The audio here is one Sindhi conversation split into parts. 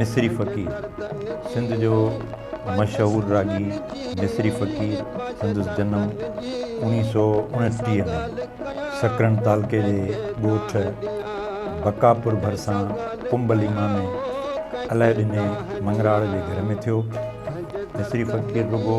مصري فقير سنڌ جو مشهور راڳي مصري فقير سندس جنم اوڻيهه سؤ اڻٽيهه ۾ سڪرنڊ تعلقي جي ڳوٺ بقاپور ڀرسان ڪنب ليما ۾ علهه ڏني مڱراڙ جي گهر ۾ ٿيو مصري فقير رڳو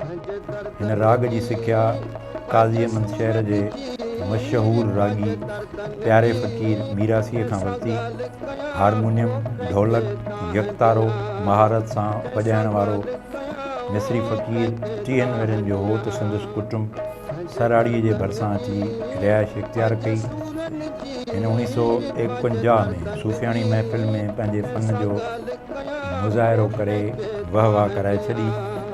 هن راڳ جي سکيا قاضي احمد شهر جي مشهور راڳي پياري فقير ميراثيء کان ورتي. هارمونيم، ڍولڪ، يڪتارو مهارت سان وڄائڻ وارو مصري فقير ٽيهن ورهين جو هو ته سندس ڪٽنب سراڙيء جي ڀرسان اچي رهائش اختيار ڪئي. هن اوڻيهه سؤ ايڪونجاهه ۾ صوفياڻي محفل ۾ پنهنجي فن جو مظاهرو ڪري وهواه ڪرائي ڇڏي.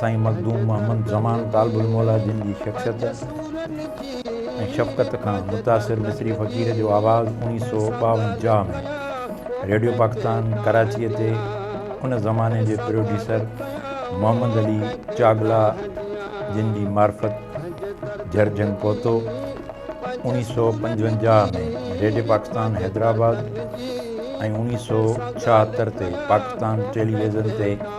سائين مخدوم محمد زمان طالب الموليٰ جن جي شخصيت ۽ شفقت کان متاثر مصري فقير جو آواز اوڻيهه سؤ ٻاونجاهه ۾ ريڊيو پاڪستان ڪراچيء تي ان زماني جي پروڊيوسر محمد علي چاڳلا جن جي معرفت جهرجهنگ پهتو. اوڻيهه سؤ پنجونجاهه ۾ ريڊيو پاڪستان حيدرآباد ۽ اوڻيهه سؤ ڇاهتر تي پاڪستان ٽيليويزن تي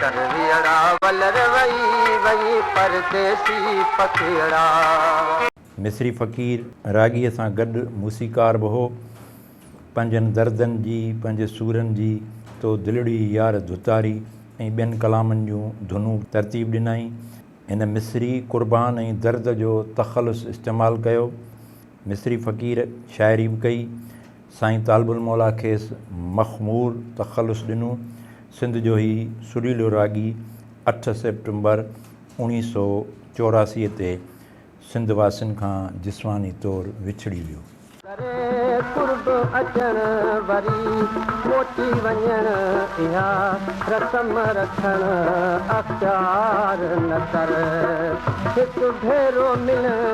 ڪرويئڙا ولر وئي وئي پرديسي پکيئڙا. مصري فقير راڳيء سان گڏ موسيقار به هو. پنهنجن دردن جي، پنهنجي سورن جي، تو دلڙي يار ڌتاري ۽ ٻين ڪلامن جون ڌنون به ترتيب ڏنائين. هن مصري قربان ۽ درد جو تخلص استعمال ڪيو. مصري فقير شاعري به ڪئي. سائين طالب الموليٰ کيس مخمور تخلص ڏنو. سنڌ جو هي سريلو راڳي اٺ سيپٽمبر اوڻيهه سؤ چوراسي تي سنڌ واسين کان جسماني طور وڇڙي ويو. ڪري قرب اچڻ وري موٽي وڃڻ اها رسم رکڻ اختيار نه ڪر هڪ ڀيرو ملڻ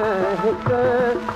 هڪ.